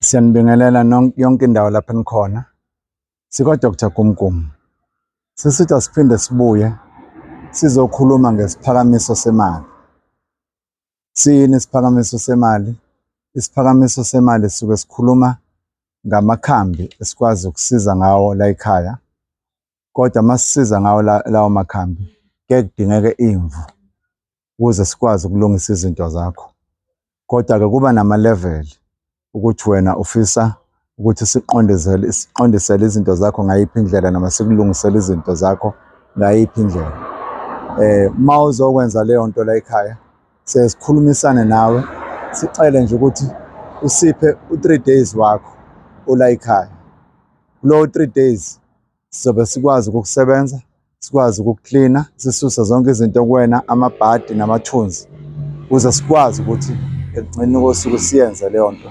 Siyanibingelela yonke indawo lapho enikhona. SikaDr Gumgum. Sisithi asiphinde sibuye sizokhuluma ngesiphakamiso semali. Siyini isiphakamiso semali? Isiphakamiso semali sisuke sikhuluma ngamakhambi esikwazi ukusiza ngawo la ekhaya kodwa masisiza ngawo lawo makhambi ke kudingeke imvu ukuze sikwazi ukulungisa izinto zakho kodwa ke kuba nama level ukuthi wena ufisa ukuthi siqondisele siqondisele izinto zakho ngayiphi indlela noma sikulungisele izinto zakho ngayiphi indlela eh uma uzokwenza leyo nto la ekhaya sesikhulumisane nawe sicele nje ukuthi usiphe u3 days wakho ola ekhaya kulowo 3 days Sizobe sikwazi ukukusebenza, sikwazi ukukuklina, sisuse zonke izinto kuwena, amabhadi namathunzi, ukuze sikwazi ukuthi ekugcineni kosuku siyenze leyo nto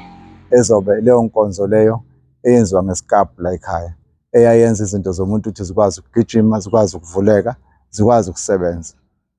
ezobe leyo nkonzo leyo eyenziwa ngesikabhu la ekhaya eyayenza izinto zomuntu ukuthi zikwazi ukugijima, zikwazi ukuvuleka, zikwazi ukusebenza.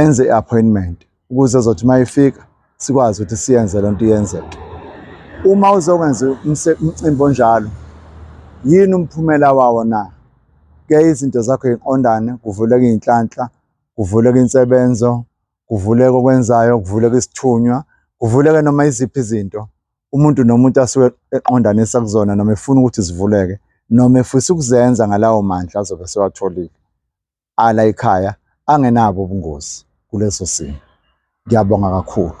enze i-appointment ukuze zothi uma ifika sikwazi ukuthi siyenze le nto iyenzeke uma uzokwenza umcimbi onjalo yini umphumela wawo na ke izinto zakho yiqondane kuvuleka iy'nhlanhla kuvuleka insebenzo kuvuleka okwenzayo kuvuleka isithunywa kuvuleka noma iziphi izinto umuntu nomuntu asuke eqondanisa kuzona noma efuna ukuthi zivuleke noma efisa ukuzenza ngalawo mandla azobe sewatholile ala ekhaya angenabo ubungozi kuleso simo. Ngiyabonga kakhulu.